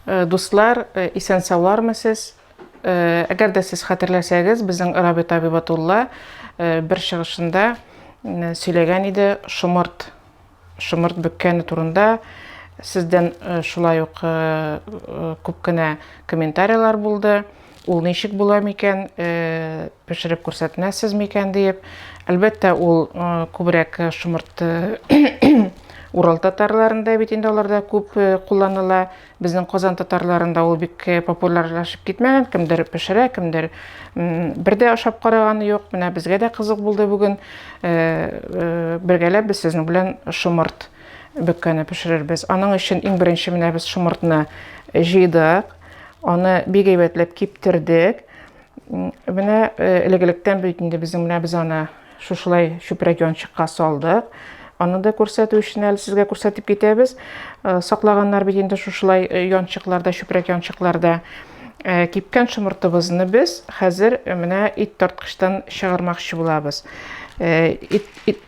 Дуслар, исән-саулармы сез? Әгәр дә сез хәтерләсәгез, безнең Рабит Абибатулла бер чыгышында сөйләгән иде шомырт, шомырт бөккәне турында. Сездән шулай ук күп кенә комментарийлар булды. Ул ничек була микән, пешереп күрсәтмәссез микән диеп. Әлбәттә, ул күбрәк шомырт Урал татарларында бит инде аларда күп э, кулланыла. Безнең Казан татарларында ул бик э, популярлашып китмәгән. Кемдер пешерә, кемдер бер дә ашап караганы юк. Менә безгә дә кызык булды бүген. Э, бергәләп без сезнең белән шомырт бөккәне пешерербез. Аның өчен иң беренче менә без шомыртны җыйдык. Аны бик әйбәтләп киптердек. Менә э, элек-электән бит инде безнең менә без аны шушылай чүпрәк янчыкка салдык. Аны да күрсәтү өчен әле сезгә күрсәтеп китәбез. Э, саклаганнар бит инде шушылай э, янчыкларда, чүпрәк янчыкларда. Э, кипкән шомыртыбызны без хәзер э, менә ит тарткычтан чыгармакчы булабыз э, ит, ит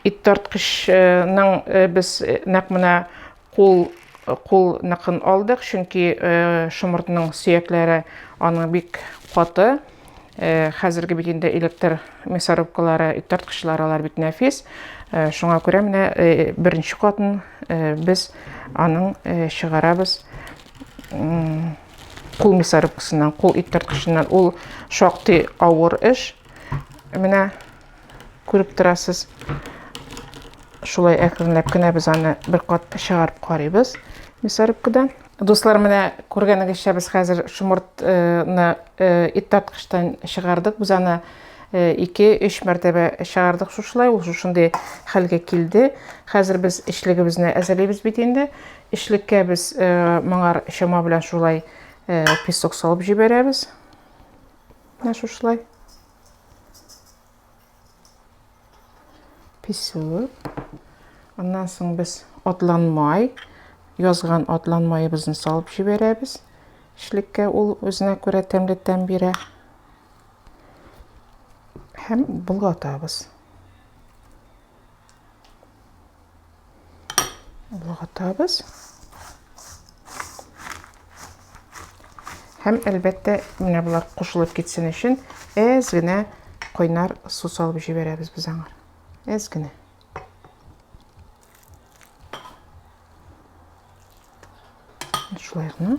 Ит тарткычның без нәкъ менә кул кул ныкын алдык, чөнки шомыртның сөякләре аның бик каты. Хәзерге бит инде электр мясорубкалары, ит тарткычлары алар бик нәфис. Шуңа күрә менә беренче катын без аның чыгарабыз кул мясорубкасыннан, кул ит тарткычыннан. Ул шактый авыр эш. Менә Күреп торасыз, шулай әкренләп кенә без аны бер кат чыгарып карыйбыз мясорубкадан. Дуслар, менә күргәнегезчә без хәзер шомыртны ит тарткычтан чыгардык. Без аны 2-3 мәртәбә чыгардык шушылай. Ул шушындый хәлгә килде. Хәзер без эчлегебезне әзерлибез бит инде. Эчлеккә без моңар чама белән шулай песок салып җибәрәбез. Менә шушылай. Песок. Аннан соң без атлан май, язган атлан майыбызны салып җибәрәбез. Эшлеккә ул үзенә күрә тәмле тәм бирә. Һәм болгатабыз. Болгатабыз. Һәм әлбәттә, менә булар кушылып китсен өчен әз генә кайнар су салып җибәрәбез без аңар. Әз генә. Шулай гына.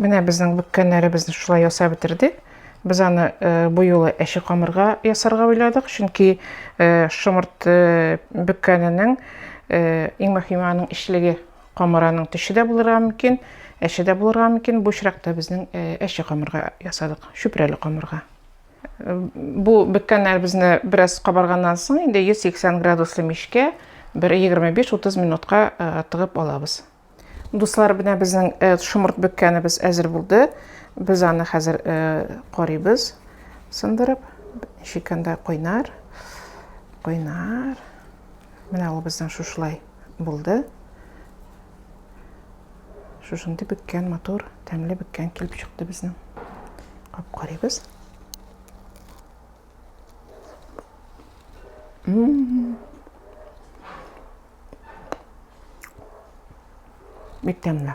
Менә безнең бүккәннәребезне шулай ясап бетердек. Без аны э, бу юлы әче камырга ясарга уйладык, чөнки э, шомырт э, бөккәненең иң мөһиме аның ишлеге. Камыраның төше дә булырга мөмкин, әче дә булырга мөмкин. Бу очракта безнең әче камырга ясадык, чүпрәле камырга. Бу беккәннәребезне бераз кабарганнан соң инде 180 градуслы мичкә бер 25-30 минутка тыгып алабыз. Дуслар, менә безнең шомырт беккәнебез әзер булды. Без аны хәзер карыйбыз, сындырып. Шикәндә кайнар, кайнар. Менә ул безнең шушылай. Булды. Шушындый беккән матур, тәмле беккән килеп чыкты безнең. Кап карыйбыз. Бик тәмле.